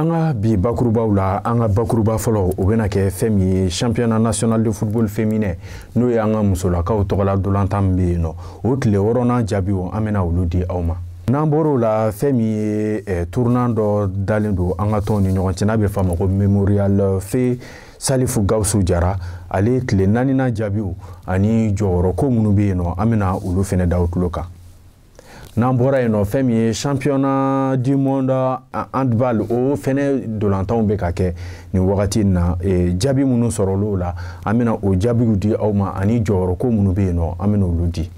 an ka bi bakurubaw la an ka bakuruba fɔlɔ o bɛna kɛ fɛn min ye championnat national de football féminin n'o ye an ka musolakaw tɔgɔla dolantan min bɛ yen nɔ o tile wɔɔrɔnan jaabiw an bɛna olu di aw ma n'an bɔr'o la fɛn min ye eh, tournoi dɔ dalen don an ka tɔnw ni ɲɔgɔn cɛ n'a bɛ f'a ma ko memorial feu salifu gawusu jara ale tile naaninan jaabiw ani jɔyɔrɔ ko minnu bɛ yen nɔ an bɛna olu fɛnɛ da aw tulo kan n'an bɔra yen nɔ fɛn min ye championnat du monde handball o fɛnɛ dolantanw bɛ ka kɛ nin wagati in na e, jaabi minnu sɔrɔl'o la an bɛna o jaabiw di aw ma ani jɔyɔrɔ ko minnu bɛ yen nɔ an bɛna olu di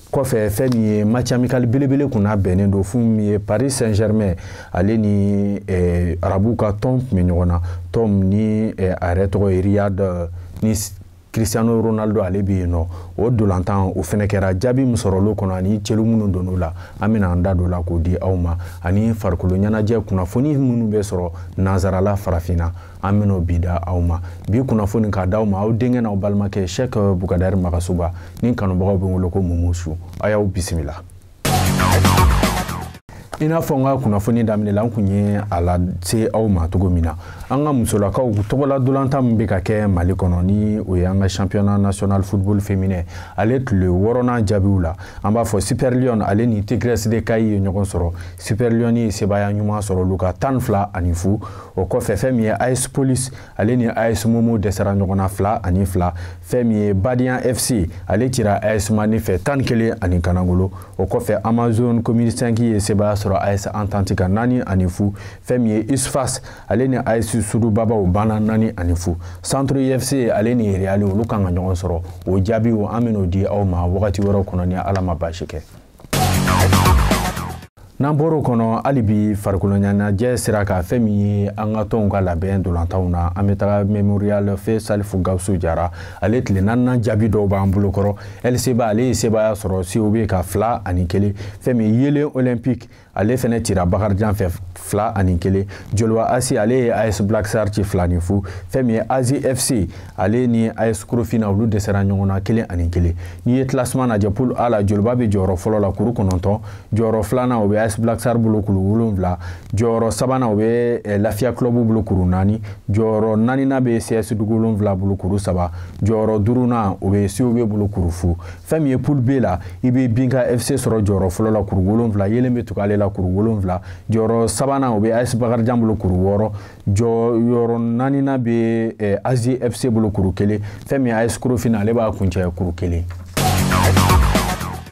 kɔfɛ fɛn min ye match amical belebele kun labɛnnen don fɛn min ye paris saint germain ale ni eh, arabuw ka tɔn tun bɛ ɲɔgɔn na tɔn ni eh, a yɛrɛ tɔgɔ ye riyad ni Cristiano Ronaldo ale bɛ yen nɔ o dolantan o fɛnɛ kɛra jaabi min sɔrɔl'o kɔnɔ ani celu minnu donn'o la an bɛna an da don o la k'o di aw ma ani farikolo ɲɛnajɛ kunnafoni minnu bɛ sɔrɔ nanzarala farafinna an bɛn'o bɛɛ da aw ma bi kunnafoni k'a d'aw ma aw denkɛ n'aw balimakɛ Sɛk Bukadari Magasuba ni kanubagaw bɛ wele ko Mumusu a y'aw bisimila. i n'a fɔ n ka kunnafoni daminɛ la n kun ye a lase aw ma cogo min na an ka musolakaw tɔgɔla dolantan min bɛ ka kɛ mali kɔnɔ ni o ye an ka championnat national football féminin ale tile wɔɔrɔnan jaabiw la an b'a fɔ super lionnes ale ni tigresses de kayi ye ɲɔgɔn sɔrɔ super lionnes ye sebaaya ɲuman sɔrɔ olu kan tan fila ani fu o kɔfɛ fɛn min ye as police ale ni AS Momo dɛsɛra ɲɔgɔn na fila ani fila fɛn min ye Badian FC ale cira AS Mandé fɛ tan ni kelen ani kanangolo o kɔfɛ Amazones Commune 5 ye sebaaya sɔrɔ AS Entente kan naani ani fu fɛn min ye USFAS ale ni AS Sudubabaw banna naani ani fu Santoro UFC ale ni Real olu kan ka ɲɔgɔn sɔrɔ o jaabiw an bɛn'o di aw ma wagati wɛrɛw kɔnɔ ni Ala ma baasi kɛ n'an bɔr'o kɔnɔ hali bi farikoloɲɛnajɛ sira kan fɛn min ye an ka tɔnw ka labɛn dolantanw na an bɛ taga memorial feu salifu gawusu jara ale tile naaninan jaabi dɔw b'an bolo kɔrɔ lcba ale ye sebaaya sɔrɔ cob kan fila ani kelen fɛn min yeelen olympique ale fɛnɛ cira bakarijan fɛ fila ani kelen joliba ac ale ye as black star ci fila ni fu fɛn min ye azi fc ale ni as korofina olu dɛsɛra ɲɔgɔn na kelen ani kelen n'i ye classement lajɛ poule a la joliba bɛ jɔyɔrɔ fɔlɔ la kuru kɔnɔntɔn jɔyɔrɔ filanan o bɛ as black star bolo kuru wolonwula jɔyɔrɔ sabanan o bɛ eh, lafiya club bolo kuru naani jɔyɔrɔ naaninan bɛ cs dugu wolonwula bolo kuru saba jɔyɔrɔ duurunan o bɛ cob bolo kuru fu fɛn min ye poule b la i bɛ binga fc sɔrɔ jɔyɔrɔ fɔlɔ la kuru wolonwula yelen bɛ tugu ale la kuru wolonwula jɔyɔrɔ sabanan o bɛ as bakarijan bolo kuru wɔɔrɔ jɔyɔrɔ naaninan bɛ eh, azi fc bolo kuru kelen fɛn min ye as korofina ale b'a kuncɛ kuru kelen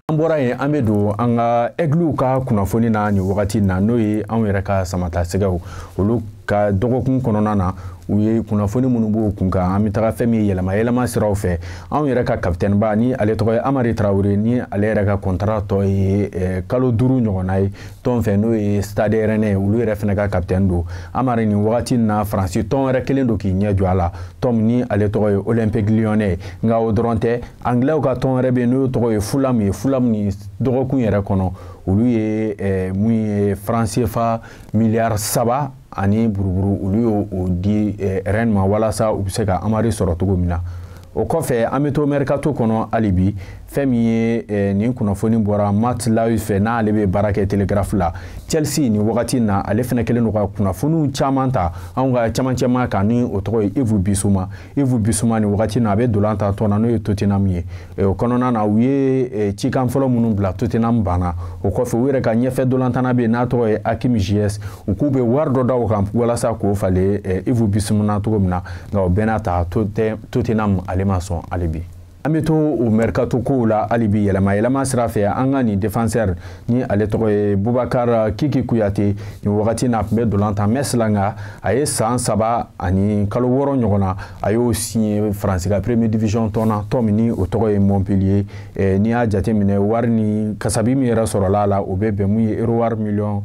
an bɔra yen an bɛ don an ka ɛgliw ka kunnafoni na nin wagati na n'o ye anw yɛrɛ ka samata sɛgɛw olu ka dɔgɔkun kɔnɔna na u ye kunnafoni minnu b'o kun kan an bɛ taga fɛn min ye yɛlɛma yɛlɛma siraw fɛ anw yɛrɛ ka kapitɛniba ni ale tɔgɔ ye amari tarawele ni ale yɛrɛ ka kɔntara tɔ ye eh, kalo duuru ɲɔgɔnna ye tɔn fɛ n'o ye stade rennais olu yɛrɛ fana ka kapitɛni don amari nin wagati in na faransi tɔn wɛrɛ kɛlen don k'i ɲɛ jɔ a la tɔn ni ale tɔgɔ ye olympique lyonnais nka o dɔrɔn tɛ angilɛw ka tɔn wɛrɛ bɛ yen n'o tɔgɔ ye fulham ye fulham ni dɔgɔkun yɛrɛ kɔnɔ olu ye eh, mun ye faransefa miliyari saba ani buruburu olu y'o di eh, rennes ma walasa u bɛ se ka amari sɔrɔ cogo min na o kɔfɛ an bɛ to mɛrikato kɔnɔ hali bi fɛn min ye eh, nin kunnafoni bɔra matt law fɛ n'ale bɛ baara kɛ telegraph la chelsea nin wagati na ale fana kɛlen don ka kunnafoniw caman ta anw ka camancɛma kan ni o tɔgɔ ye ivu bisuma ivu bisuma nin wagati na a bɛ dolan tan tɔn na n'o ye tottenham ye Eh, o kɔnɔna na u ye eh, cikan fɔlɔ minnu bila tottenham banna o kɔfɛ u yɛrɛ ka ɲɛfɛ dolantana bɛ yen n'a tɔgɔ ye hakim ziyech u k'u bɛ wari dɔ da o kan walasa k'o falen eh, ivu bisuma na cogo min na nka o bɛɛ n'a ta tottenham ale ma sɔn hali bi an bɛ to o mercato kow la hali bi yɛlɛma yɛlɛma sira fɛ an ka nin defenseur ni ale tɔgɔ ye bubakar kiki kuyate nin wagati n'a tun bɛ dolan tan metz la nka a ye san saba ani kalo wɔɔrɔ ɲɔgɔn na a y'o siɲe faransi ka première division tɔn na tɔn min ni o tɔgɔ ye montpellier eh, n'i y'a jate minɛ wari ni kasabi min yɛrɛ sɔrɔla a la o bɛ bɛn mun ye euro wari miliyɔn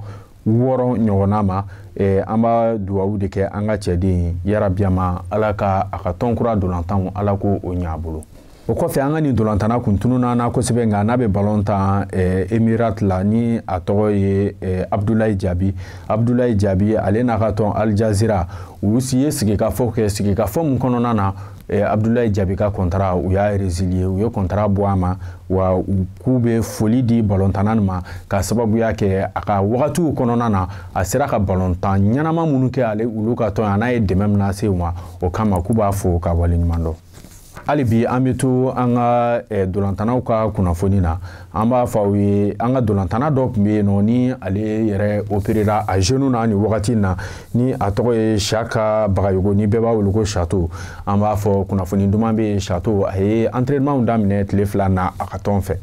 wɔɔrɔ ɲɔgɔnna ma eh, an b'a duwawu de kɛ an ka cɛden ye yarabi a ma ala ka a ka tɔn kura dolantanw ala k'o ɲa a bolo o kɔfɛ an ka nin dolantana kun tununa na kosɛbɛ nka n'a bɛ balon tan eh, emirat la ni a tɔgɔ ye eh, abdulayi jaabi abdulayi jaabi ale n'a ka tɔn al jazeera u ye sigikafɔ kɛ sigikafɔ min kɔnɔna na eh, abdulayi jaabi ka kɔntara u y'a reziliye u ye kɔntara bɔ a ma wa u k'u bɛ foli di balontanna nin ma ka sababuya kɛ a ka wagatiw kɔnɔna na a sera ka balontan ɲɛnama minnu kɛ ale olu ka tɔn an'a ye dɛmɛ min lase u ma o kama k'u b'a fo k'a waleɲumandɔn hali bi an bɛ to an ka eh, dolantanaw ka kunnafoni na an b'a fɔ aw ye an ka dolantana dɔ tun bɛ yen nɔ ni ale yɛrɛ operera a genou na nin wagati in na ni a tɔgɔ ye siaka bagayogo ni bɛɛ b'a wele ko chato an b'a fɔ kunnafoni duman bɛ yen chato a ye entraînementw daminɛ tile fila na a ka tɔn fɛ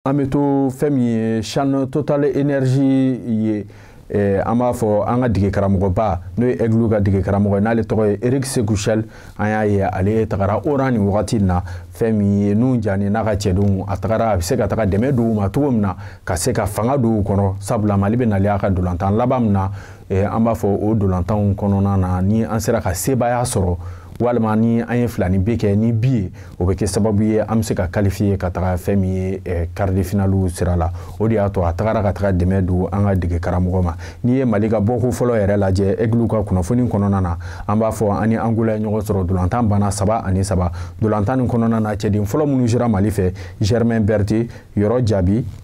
an bɛ to fɛn min ye chan total energie ye Eh, an b'a fɔ an ka dege karamɔgɔba n'o ye aigle ka dege karamɔgɔ ye n'ale tɔgɔ ye eric sékou chelle an y'a ye ale tagara oran nin wagati in na fɛn min ye nuhun jane n'a ka cɛdenw a tagara a bɛ se ka taga dɛmɛ don u ma cogo min na ka se ka fanga don u kɔnɔ sabula mali bɛ nalen a ka dolantan laban min na eh, an b'a fɔ o dolantanw kɔnɔna na ni an sera ka sebaaya sɔrɔ walima ni an ye filaninbin kɛ ni bi ye o bɛ kɛ sababu ye an bɛ se ka qualifier ka taga fɛn min ye eh, quart de finale sira la o de y'a to a tagara ka taga dɛmɛ don an ka dege karamɔgɔ ma n'i ye mali ka bɔko fɔlɔ yɛrɛ lajɛ aigle ka kunnafoni kɔnɔna na an b'a fɔ an ni angola ye ɲɔgɔn sɔrɔ dolantan banna saba ani saba dolantan nin kɔnɔna na cɛden fɔlɔ minnu sera mali fɛ germain berthé yɔrɔ jaabi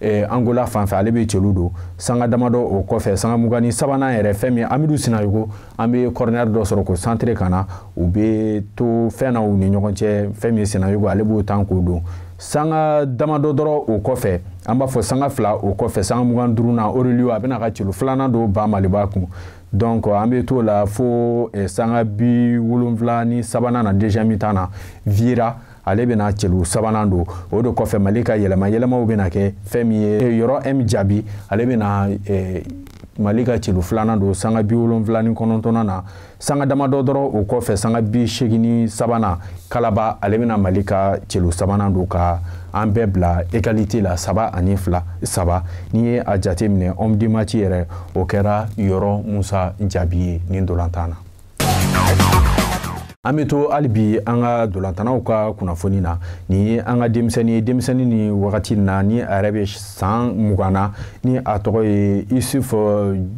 eh, angola fan fɛ ale bɛ celu don sanga damadɔ o kɔfɛ sanga mugan ni sabanan yɛrɛ fɛn min ye amidu sinayogo an bɛ kɔrɔnɛri dɔ sɔrɔ k'o santere ka na u bɛ to fɛn na u ni ɲɔgɔn cɛ fɛn min ye sinayogo ale b'o tan k'o don sanga damadɔ dɔrɔn o kɔfɛ an b'a fɔ sanga fila o kɔfɛ sanga mugan duurunan oreliyo a bɛna ka celu filanan don ba maliba kun donc an bɛ t'o la fo eh, sanga bi wolonwula ni sabanan na deuxième mi-temps na viera ale bɛna celu sabanan don o de kɔfɛ mali ka yɛlɛma yɛlɛmaw bɛna kɛ fɛn min ye eh, yɔrɔ m jaabi ale bɛna eh, mali ka celu filanan don sanga bi wolonfila ni kɔnɔntɔnnan na sanga damadɔ dɔrɔn o kɔfɛ sanga bi seegin ni sabanan kalaba ale bɛna mali ka celu sabanan don ka an bɛɛ bila egalite la saba ani fila saba n'i ye a jate minɛ homme du match yɛrɛ o kɛra yɔrɔ musa jaabi ye nin dolantan na an bɛ to hali bi an ka dolantannaw ka kunnafoni na nin ye an ka denmisɛnnin ye denmisɛnnin nin wagati in na ni a yɛrɛ bɛ san mugan na ni a tɔgɔ ye isuf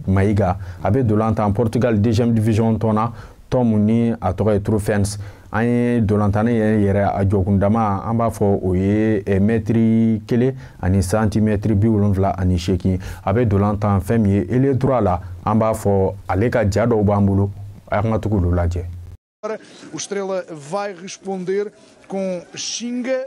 mayiga a bɛ dolan tan portugal deuxième division tɔn na tɔn min ni a tɔgɔ ye trofense an ye dolantanna yɛrɛ yɛrɛ a jɔkundama an b'a fɔ o ye eh, mɛtiri kelen ani santimɛtiri bi wolonfila ani seegin a bɛ dolan tan fɛn min ye ailier droit la an b'a fɔ ale ka ja dɔw b'an bolo an ka tugu olu lajɛ. O Estrela vai responder com xinga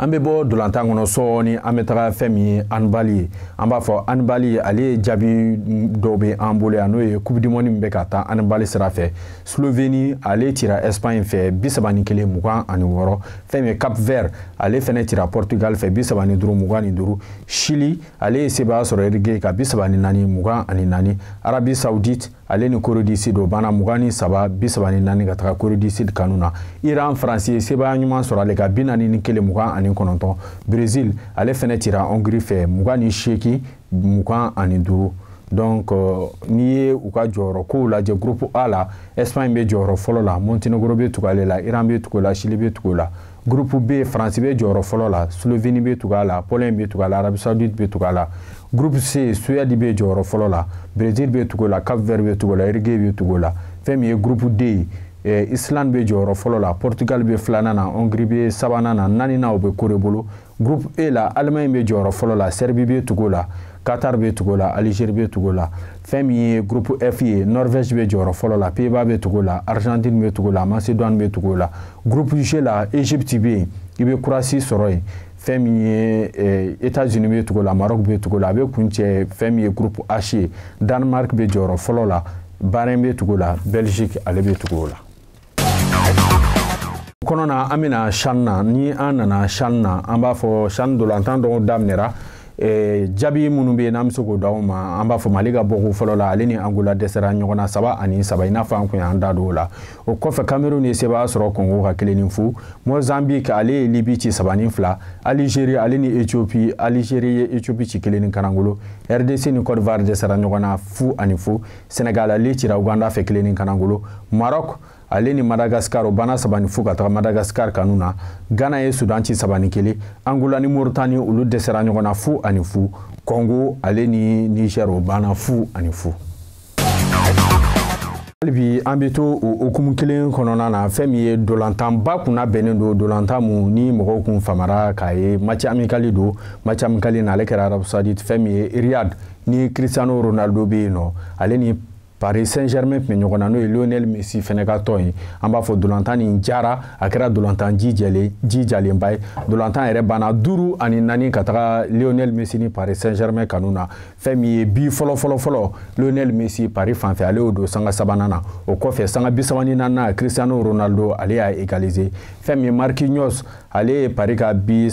an bɛ bɔ dolantan kɔnɔ sɔɔni an bɛ taga fɛn min ye handball ye an b'a fɔ handball ale ye jaabi dɔw bɛ an bolo yan n'o ye coupe du monde min bɛ ka taa handball sira fɛ slovénie ale cira espagne fɛ bi saba ni kelen mugan ani wɔɔrɔ fɛn min ye cap vert ale fɛnɛ cira portugal fɛ bi saba ni duuru mugan ni duuru chili ale ye sebaaya sɔrɔ uruguay kan bi saba ni naani mugan ani naani arabie saoudite ale ni corée du sud o banna mugan ni saba bi saba ni naani ka taga corée du sud kanu na iran faransi ye sebaaya ɲuman sɔrɔ ale kan bi naani ni kelen mugan ani kɔnɔntɔn brésil ale fɛnɛ cira hongrie fɛ mugan ni seegin mugan ani duuru donc euh, n'i ye u ka jɔyɔrɔ kow lajɛ groupe a la espagne bɛ jɔyɔrɔ fɔlɔ la montenegro bɛ tugu ale la iran bɛ tugu la chili bɛ tugu la Gurupu B Faransi bɛ jɔyɔrɔ fɔlɔ la, Sloveni bɛ tugu a la, Polɔɲi bɛ tugu a la, Arabi Sawuditi bɛ tugu a la. Gurupu C Suwɛdi bɛ jɔyɔrɔ fɔlɔ la, Berezili bɛ tugu o la, Kapu Vɛri bɛ tugu o la, Irige bɛ tugu o la. Fɛn min ye gurupu D ye, eh, Isilandi bɛ jɔyɔrɔ fɔlɔ la, Pɔrtugali bɛ filanan na, Ɔngiri bɛ sabanan na, naaninan o bɛ Kore bolo. groupe e la allemagne bɛ jɔyɔrɔ fɔlɔ la serbie bɛ tugu la qatar bɛ tugu la algérie bɛ tugu la fɛn min ye groupe f ye norvège bɛ jɔyɔrɔ fɔlɔ la pays-bas bɛ tugu la argentine bɛ tugu la macédoine bɛ tugu la groupe g la égypte bɛ yen i bɛ croatie sɔrɔ yen fɛn min ye eh, états-unis bɛ tugu la maroc bɛ tugu la a bɛ kuncɛ fɛn min ye groupe h ye danemark bɛ jɔyɔrɔ fɔlɔ la bahrain bɛ tugu la belgique ale bɛ tugu o la kɔnɔ na an bɛna chan na ni an nana chan na an b'a fɔ chan dolantan dɔw daminɛra eh, jaabi minnu bɛ yen n'an bɛ se k'o di aw ma an b'a fɔ mali ka bɔko fɔlɔ la ale ni angola dɛsɛra ɲɔgɔn na saba ani saba i n'a fɔ an kun y'an da don o la o kɔfɛ kamerun ye sebaaya sɔrɔ kɔngo kan kelen ni fu mozambique ale ye libi ci saba ni fila alizeri ale ni ethiopie alizeri ye ethiopie ci kelen ni kanangolo rdc ni cote d'ivoire dɛsɛra ɲɔgɔn na fu ani fu senegal ale cira uganda fɛ kelen ni kanangolo maroc ale ni madagascar o banna saba ni fu ka taga madagascar kanu na ghana ye sudan ci saba ni kelen angola ni moritani olu dɛsɛra ɲɔgɔn na fu ani fu congo ale ni niger o banna fu ani fu halibi an bɛ to o hukumu kelen kɔnɔna na fɛn min ye dolantanba kun labɛnnen don dolantan mun ni mɔgɔw kun famara k'a ye match amical don match amical na ale kɛra arabie saoudite fɛn min ye riyad ni cristiano ronaldo bɛ yen nɔ ale ni paris saint germain tun bɛ ɲɔgɔn na n'o ye lionel messi fɛnɛ ka tɔn ye an b'a fɔ dolantan nin jara a kɛra dolantan ji jɛlen ji jalenba ye dolantan yɛrɛ banna duuru ani naani ka taga lionel messi ni paris saint germain kanu na fɛn min ye bi fɔlɔ fɔlɔ fɔlɔ lionel messi paris fanfɛ ale y'o don sanga sabanan na o kɔfɛ sanga bisaba ni naaninan cristiano ronaldo ale y'a égaliser fɛn min ye marquinhos ale ye pari ka bi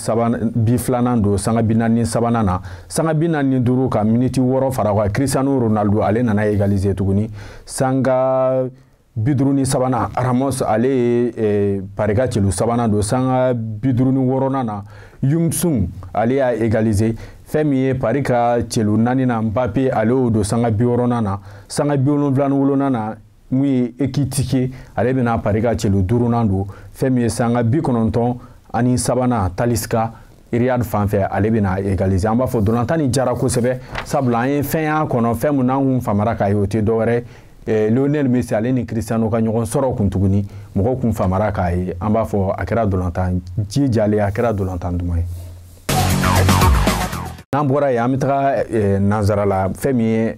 filanan don sanga binaani sabanan na sanga binaani duuru ka miniti wɔɔrɔ fara kan cristiano ronaldo ale nana egalize tuguni sanga biduuru ni sabanan ramos ale ye eh, pari ka celu sabanan don sanga biduuru ni wɔɔrɔnan na hyun-soo ale y'a egalize fɛn min ye pari ka celu naaninan mbappe ale y'o don sanga biwɔɔrɔnan na sanga biwolonwula ni wolonnan na mun ye ekitike ale bɛna pari ka celu duurunan don fɛn min ye sanga bikɔnɔntɔn ani sabanan talisca riyad fan fɛ ale bɛna egalize an b'a fɔ dolantan nin jara kosɛbɛ sabula an ye fɛn y'a kɔnɔ fɛn min n'an kun famara k'a ye o tɛ dɔwɛrɛ eh, lionel messi ale ni cristiano ka ɲɔgɔn sɔrɔ kun tuguni mɔgɔw kun famara k'a ye an b'a fɔ a kɛra dolantan ji jalen a kɛra dolantan duman ye n'an bɔra yen an bɛ taga eh, nansara la fɛn min ye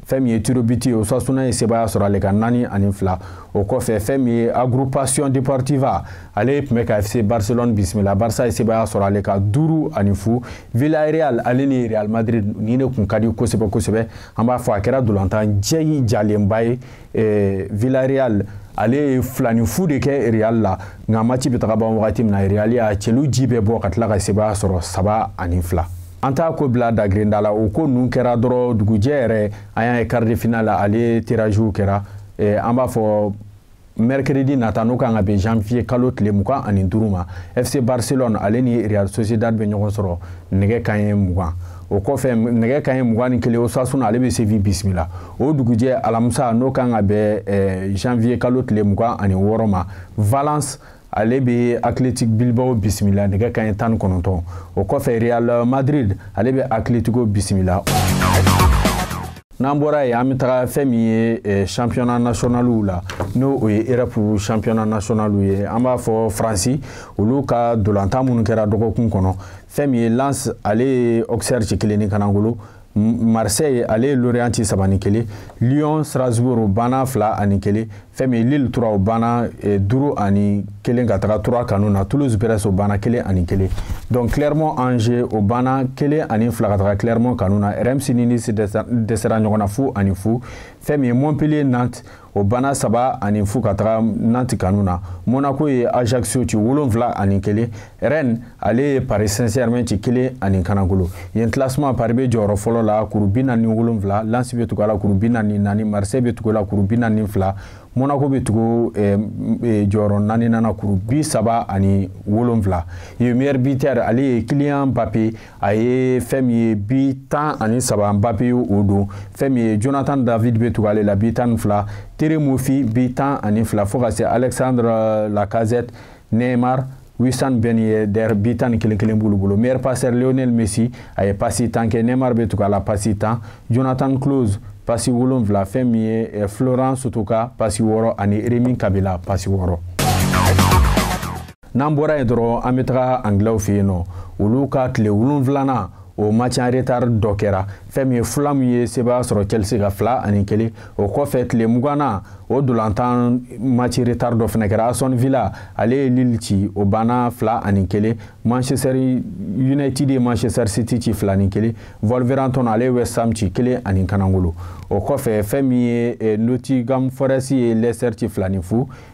fɛn min ye tirobiti ye osasuna ye sebaaya sɔrɔ ale kan naani ani fila o kɔfɛ fɛn min ye agrupation deportiva ale tun bɛ ka fc barcelone bisimila barça ye sebaaya sɔrɔ ale kan duuru ani fu villarreal ale ni real madrid ni ne kun ka di kosɛbɛ kosɛbɛ an b'a fɔ a kɛra dolantan jɛyi jalenba ye eh, villarreal ale ye fila ni fu de kɛ real la nka match bɛ taga ban wagati min na real y'a celu ji bɛɛ bɔ ka tila ka sebaaya sɔrɔ saba ani fila an t'a ko bila dagirenda la o ko ninnu kɛra dɔrɔn dugujɛ yɛrɛ an y'a ye quart de finale la ale tirage kɛra eh, an b'a fɔ mercredi nata n'o kan ka bɛn janvier kalo tile mugan ani duuru ma fc barcelone ale ni real sociedad bɛ ɲɔgɔn sɔrɔ nɛgɛ kanɲɛ mugan o kɔfɛ nɛgɛ kanɲɛ mugan ni kelen osasuna ale bɛ séville bisimila o dugujɛ alamisa n'o kan ka bɛn eh, janvier kalo tile mugan ani wɔɔrɔ ma valence ale bɛ Athletic Bilbao bisimila nɛgɛ kanɲɛ tan ni kɔnɔntɔn o kɔfɛ Real Madrid ale bɛ Atletico bisimila n'an bɔra yen an bɛ taga fɛn min ye eh, championnat nationaliw la n'o ye europe championnat nationaliw ye an b'a fɔ faransi olu ka dolantan minnu kɛra dɔgɔkun kɔnɔ fɛn min ye Lens ale ye auxerre ci kelen ni kanangolo marseille ale ye lorient ci saba ni kelen lyon strasbourg o banna fila ani kelen fɛn min ye lille troyes o banna eh, duuru ani kelen ka taga troyes kanu na toulouse brest o banna kelen ani kelen donc clermont angers o banna kelen ani fila ka taga clermont kanu na reims ni nice dɛsɛra ɲɔgɔn na fu ani fu fɛn min ye montpellier nantes o banna saba ani fu ka taga nantes kanu na monaco ye ajaccio ci wolonfila ani kelen rennes ale ye paris saint germain ci kelen ani kanangolo yen classement paris bɛ jɔyɔrɔ fɔlɔ la kuru bi naani wolonfila lens bɛ tugu a la kuru bi naani naani marseille bɛ tugu a la kuru bi naani fila monaco bɛ tugu eh, eh, jɔyɔrɔ naaninan na kuru bi saba ani wolonfila ye meilleur buteur ale ye kylian mbappé a ye fɛn min ye bi tan ani saba mbappé o don fɛn min ye jonathan david bɛ tugu ale la bi tan ni fila terem moffi bi tan ani fila fo ka se alexandre lacazette neymar wissam ben yedder bi tan ni kelen kelen b'olu bolo meilleur passeur lionel messi a ye pasi tan kɛ neymar bɛ tugu a la pasi tan jonathan clauss pasi wolonfila fɛn min ye eh, florian sotoca pasi wɔɔrɔ ani rémy cabella pasi wɔɔrɔ n'an bɔra yen dɔrɔn an bɛ taga angilɛw fɛ yen nɔ olu ka tile wolonfilanan o match en retard dɔ kɛra fɛn min ye fulham ye sebaaya sɔrɔ chelsea kan fila ani kelen o kɔfɛ tile mugannan o dolantan match retard dɔ fana kɛra aston villa ale ye leeds ci o banna fila ani kelen manchester united ye manchester city ci fila ni kelen wolverhampton ale ye west ham ci kelen ani kanangolo o kɔfɛ fɛn min ye eh, nottingham forest ye leicester ci fila ni fu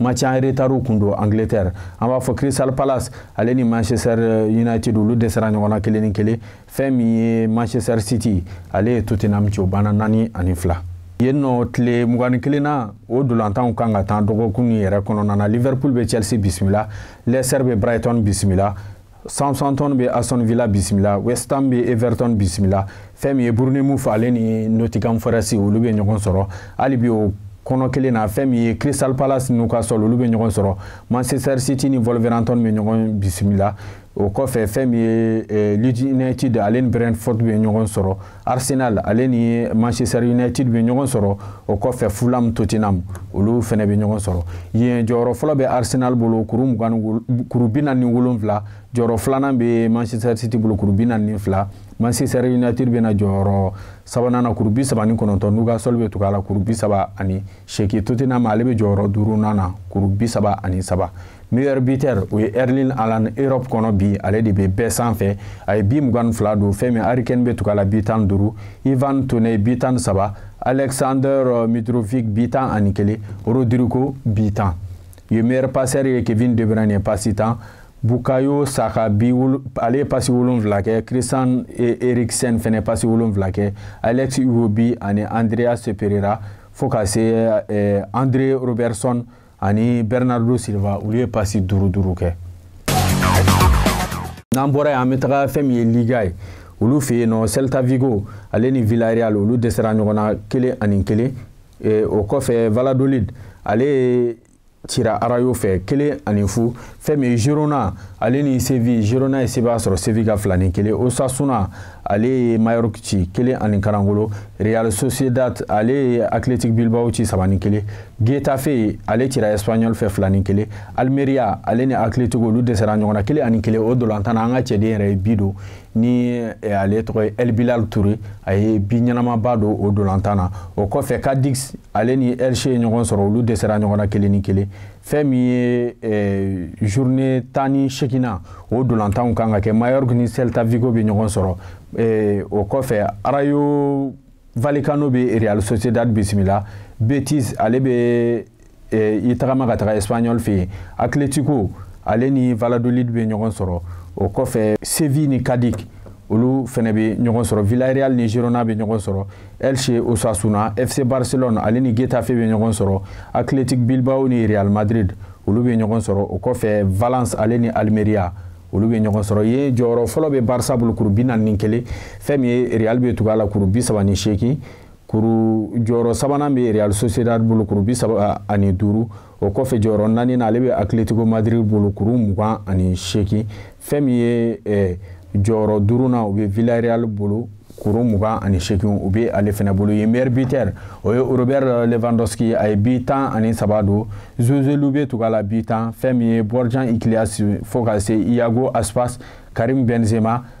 match en retard kun don angleterre an b'a fɔ crystal palace ale ni manchester euh, united olu dɛsɛra ɲɔgɔn na kelen ni kelen fɛn min ye manchester city ale ye tottenham ci o banna naani ani fila yen nɔ tile mugan ni kelen na o dolantanw kan ka taa dɔgɔkun yɛrɛ kɔnɔna na liverpool bɛ chelsea bisimila leicester bɛ brighton bisimila Southampton bɛ Aston Villa bisimila West Ham bɛ Everton bisimila fɛn min ye Bournemouth ale ni Nottingham Forest olu bɛ ɲɔgɔn sɔrɔ hali bi o kɔnɔ kelen na fɛn min ye Crystal Palace Newcastle olu bɛ ɲɔgɔn sɔrɔ Manchester City ni Wolverhampton bɛ ɲɔgɔn bisimila o kɔfɛ fɛn min ye eh, Leeds United ale ni Brentford bɛ ɲɔgɔn sɔrɔ arsenal ale ni manchester united bɛ ɲɔgɔn sɔrɔ o kɔfɛ fulham tottenham olu fɛnɛ bɛ ɲɔgɔn sɔrɔ yen jɔyɔrɔ fɔlɔ bɛ arsenal bolo kuru bi naani ni wolonfila jɔyɔrɔ filanan bɛ manchester city bolo kuru bi naani ni fila manchester united bɛ na jɔyɔrɔ sabanan na kuru bi saba ni kɔnɔntɔn newcastle bɛ tugu a la kuru bi saba ani seegin tottenham ale bɛ jɔyɔrɔ duurunan na kuru bi saba ani saba meilleur buteur o ye erling haaland europe kɔnɔ bi ale de bɛ bɛɛ sanfɛ a ye bi mugan ni fila don fɛn min harry kane bɛ tugu a la bi tan duuru ivan toney bi tan saba alexander euh, mitrovic bi tan ani kelen rodrigo bi tan u ye meilleur passeur ye kevin de bruyne ye pasi tan bukayo saka bi ale ye pasi wolonfila kɛ christian e, eriksen fɛnɛ pasi wolonfila kɛ alex iwobi ani andreas pereira fo ka se eh, andre robertson ani bernardo silva olu ye pasi duuru duuru kɛ n'an bɔra yen an bɛ taga fɛn min ye liga ye olu fɛ yen nɔ celta vigo ale ni villarreal olu dɛsɛra ɲɔgɔn na kelen ani kelen eh, o kɔfɛ valladolid ale cira rayo fɛ kelen ani fu fɛn min ye girona ale ni seville girona ye sebaaya sɔrɔ seville kan fila ni kelen osasuna ale ye majorque ci kelen ani karangolo real sociedad ale ye athletic bilbao ci saba ni kelen getafe ale cira espanyol fɛ fila ni kelen almeria ale ni atletico olu dɛsɛra ɲɔgɔn na kelen ani kelen o dolantan na an ka cɛden yɛrɛ ye bi don ni eh, ale tɔgɔ ye el bilal toure a ye bi ɲɛnamaba don o dolantan na o kɔfɛ cadix ale ni elche ye ɲɔgɔn sɔrɔ olu dɛsɛra ɲɔgɔn na kelen ni kelen fɛn min ye eh, journée tan ni seeginnan o dolantanw kan ka kɛ majorque ni celta vigo bɛ ɲɔgɔn sɔrɔ eh, o kɔfɛ rayo vallecano bɛ real sociedad bisimila betis ale bɛ eh, i tagama ka taga espanyol fɛ yen atletico ale ni valladolid bɛ ɲɔgɔn sɔrɔ o kɔfɛ seville ni cadix olu fɛnɛ bɛ ɲɔgɔn sɔrɔ villarreal ni girona bɛ ɲɔgɔn sɔrɔ Elche Osasuna, FC Barcelone ale ni Getafe bɛ ɲɔgɔn sɔrɔ, Athletic Bilbao ni Real Madrid olu bɛ ɲɔgɔn sɔrɔ, o kɔfɛ Valence ale ni Almeria olu bɛ ɲɔgɔn sɔrɔ yen jɔyɔrɔ fɔlɔ bɛ Barça bolo kuru bi naani ni kelen fɛn min ye Real bɛ tugu a la kuru bi saba ni seegin kuru jɔyɔrɔ sabanan bɛ Real Sociedad bolo kuru bi saba ani duuru o kɔfɛ jɔyɔrɔ naaninan ale bɛ atletico madrid bolo kuru mugan ani seegin fɛn min ye eh, jɔyɔrɔ duurunan o bɛ villarreal bolo kuru mugan ani seegin o bɛ ale fana bolo yen meilleur buteur o ye robert lewandowski a ye bi tan ani saba don joselu bɛ tugu a la bi tan fɛn min ye borja iglesias fo ka se iago aspas karim benzema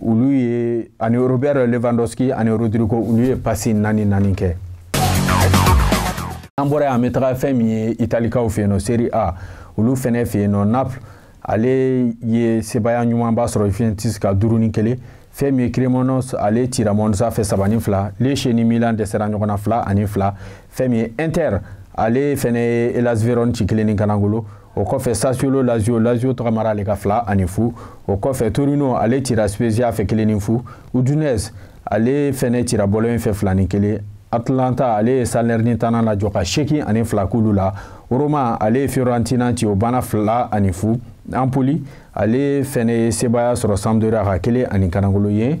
olu ye ani robert lewandowski ani rodrigo olu ye pasi naani naani kɛ an bɔra an bɛ taga fɛn min ye italikaw fɛ yen nɔ serie a olu fɛnɛ fɛ yen nɔ naples ale ye sebaaya ɲumanba sɔrɔ juventus kan duuru ni kelen fɛn min ye cremonese ale cira monza fɛ saba ni fila lecce ni milan dɛsɛra ɲɔgɔn na fila ani fila fɛn min ye inter ale fɛnɛ ye hellas vérone ci kelen ni kanangolo o kɔfɛ sassuolo lazio lazio tɔgɔmara ale kan fila ani fu o kɔfɛ torino ale cira spezia fɛ kelen ni fu udinese ale fɛnɛ cira bologne fɛ fila ni kelen atalanta ale ye salernitana lajɔ ka seegin ani fila k'olu la roma ale ye fiorentina ci o banna fila ani fu empoli ale fɛnɛ ye sebaaya sɔrɔ sampdoria kan kelen ani kanangolo ye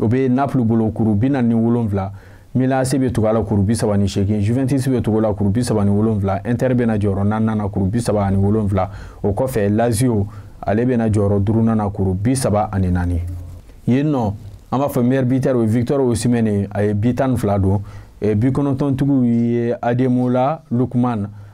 o bɛ napoli bolo kuru bi naani ni wolonwula milan ac bɛ tugu a la kuru bi saba ni seegin juventus bɛ tugu a la kuru bi saba ni wolonwula inter bɛ na jɔyɔrɔ naaninan na kuru bi saba ani wolonwula o kɔfɛ lazio ale bɛ na jɔyɔrɔ duurunan na kuru bi saba ani naani yen nɔ an b'a fɔ meilleur buteur o ye victor osimhen ye a ye bi tan ni fila don bi kɔnɔntɔntigiw ye ademola lookman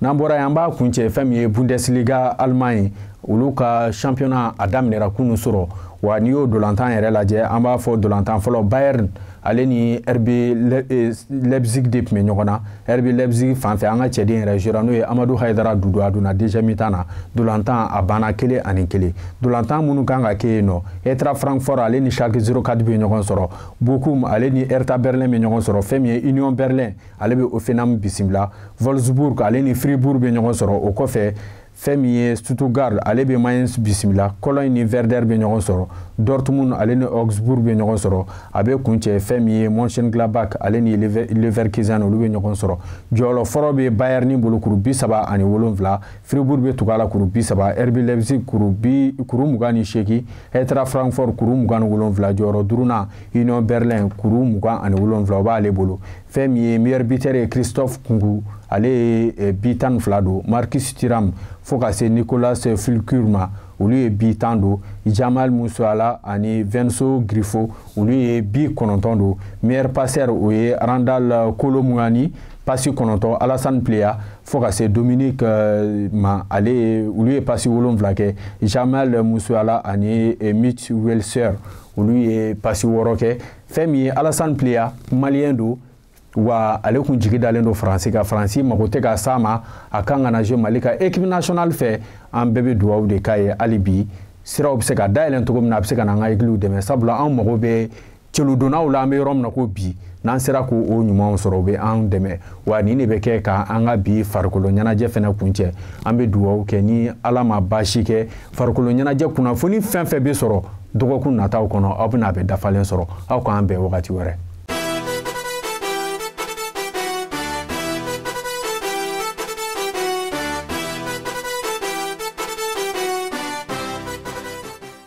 n'an bɔra yen an b'a kuncɛ fɛn min ye bundesliga allemagne olu ka championnat a daminɛra kunun surɔ wa n'i y'o dolantan yɛrɛ lajɛ an b'a fɔ dolantan fɔlɔ bayern ale ni rb eh, leipzig de tun bɛ ɲɔgɔn na rb leipzig fan fɛ an ka cɛden yɛrɛ jouera n'o ye amadou haidara doudou a donna deuxième mi-temps na dolantan a banna kelen ani kelen dolantan minnu kan ka kɛ yen nɔ eintracht francfort ale ni schalke 04 bɛ ɲɔgɔn sɔrɔ bochum ale ni hertha berlin bɛ ɲɔgɔn sɔrɔ fɛn min ye union berlin ale bɛ hoffenheim bisimila wolfsburg ale ni fribourg bɛ ɲɔgɔn sɔrɔ o kɔfɛ fɛn min ye stuttgart ale bɛ mainz bisimila cologne ni werder bɛ ɲɔgɔn sɔrɔ dortmund ale ni augsburg bɛ ɲɔgɔn sɔrɔ a bɛ kuncɛ fɛn min ye mönchengladbach ale ni leverkusen olu bɛ ɲɔgɔn sɔrɔ jɔyɔrɔ fɔlɔ bɛ bayern bolo kuru bi saba ani wolonwula fribourg bɛ tugu a la kuru bi saba rb leipzig kuru bi kuru mugan ni seegin eintracht francfort kuru mugan ni wolonwula jɔyɔrɔ duurunan union berlin kuru mugan ani wolonwula o b'ale bolo fɛn min ye meilleur buteur ye christophe nkunku ale ye eh, bi tan ni fila don marcus thuram fo ka se niclas füllkrug ma olu ye bi tan don jamal musiala ani vincenzo grifo olu ye bi kɔnɔntɔn don meilleur passeur o ye randal kolo muani pasi kɔnɔntɔn alassane pléa fo ka se dominique eh, ma ale ye olu ye pasi wolonwula kɛ jamal musiala ani eh, mitch weiser olu ye pasi wɔɔrɔ kɛ fɛn min ye alasani pliya maliyɛn don wa ale kun jigi dalen don faransi kan faransi mago tɛ ka s'a ma a kan ka na zuwe mali ka ekipi nasionali fɛ an bɛɛ bɛ duwawu de k'a ye hali bi siraw bɛ se ka dayɛlɛn cogo min na a bɛ se ka na an ka ɛgiliw dɛmɛ sabula an mago bɛ celudonnaw la an bɛ yɔrɔ min na ko bi n'an sera k'o ɲumanw sɔrɔ o bɛ an dɛmɛ wa nin de bɛ kɛ ka an ka bi farikolo ɲɛnajɛ fɛnɛ kuncɛ an bɛ dugawu kɛ ni ala ma baasi kɛ farikolo ɲɛnajɛ kunnafoni fɛn fɛn bɛ sɔrɔ dɔgɔkun nataw kɔnɔ aw bɛna a bɛɛ dafalen sɔrɔ aw k'an bɛn wagati wɛrɛ